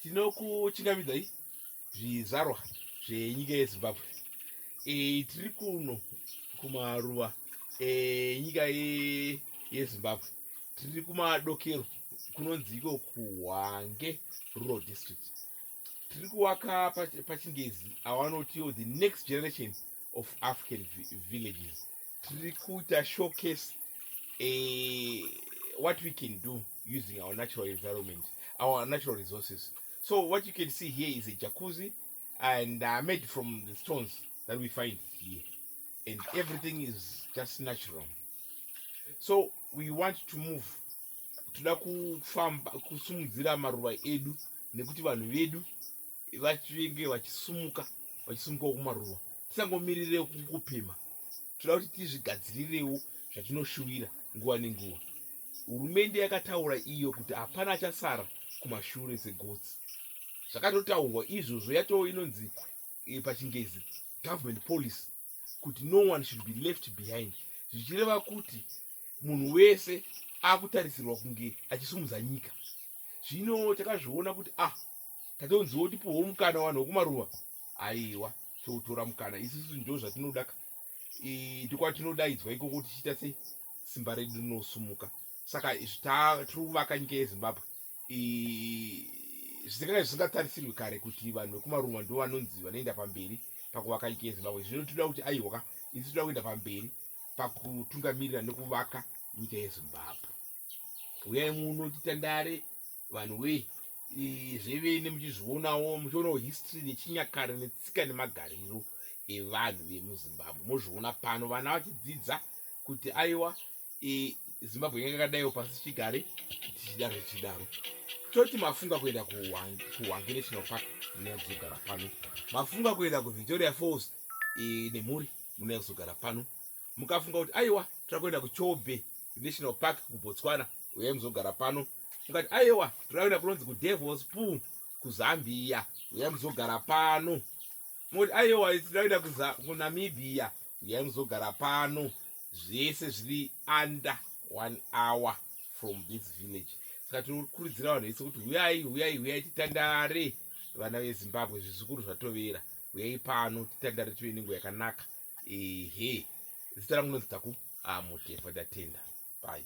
tinokuchingamidzai zvizvarwa zvenyika yezimbabwe e, tiri kuno kumaruva enyika e, yezimbabwe tiri kumadokero kunonzi iko kuhwange rural district tiri kuvaka pachingezi awanoti the next generation of african villages tiri kuita showcase eh, what we can do using our natural environment our natural resources so what you can see here is a jacuzzi and uh, made from the stones that we find here and everything is just natural so we want to move toda kufamba kusimudzira maruva edu nekuti vanhu vedu vachinge vachisumuka vachisumukawo kumaruva tisangomirire kupima toda kuti tizvigadzirirewo zvatinoshuvira nguva nenguva hurumende yakataura iyo kuti hapana achasara kumashure segotsi zvakatotaurwa izvozvo yatoo inonzi eh, pachingezi government policy kuti no one should be left behind zvichireva kuti munhu wese akutarisirwa kunge achisumudza nyika zvino takazviona kuti ah tatonziwo tipuwo mukana vanhu wekumaruva aiwa toutora mukana isusu ndo zvatinodaka ndikwatinodaidzwa ikoko tichiita sei simba redu rinosumuka saka tiri kuvaka nyika yezimbabwe zvisakanga zvisingatarisirwi kare kuti vanhu vekumarumwa ndo vanonzi vanoenda pamberi pakuvaka nyika yezimbabwe zvino tinoda kuti aiwaka isi tinoda kuenda pamberi pakutungamirira nekuvaka nyika yezimbabwe uyai muno titandare vanhu wee zvevene muchizvionawo muchionawo history nechinyakare netsika nemagariro evanhu vemuzimbabwe mozviona pano vana vachidzidza kuti aiwa I Zimbabwe yanga yakadaiwo pasi chigare tichidaro tichidaro toti mafunga kuenda kuhwange national park munaya kuzogara pano mafunga kuenda kuvictoria falls e, nemhuri munaya kuzogara pano mukafunga kuti aiwa toda kuenda kuchobe national park kubotswana uyai muzogara pano mukati aiwa toda kuenda kunonzi kudevils pool kuzambia uyai muzogara pano moti aiwa isi ndaida kuza kunamibia uyai muzogara pano zvese zviri under one hour from this village saka tinokurudzira vanhu vese kuti huyai huyai huyai titandare vana vezimbabwe zvizukuru zvatovera huyai pano titandare tive nengo yakanaka ehe zita rangu nozitaku amutefo ndatenda bai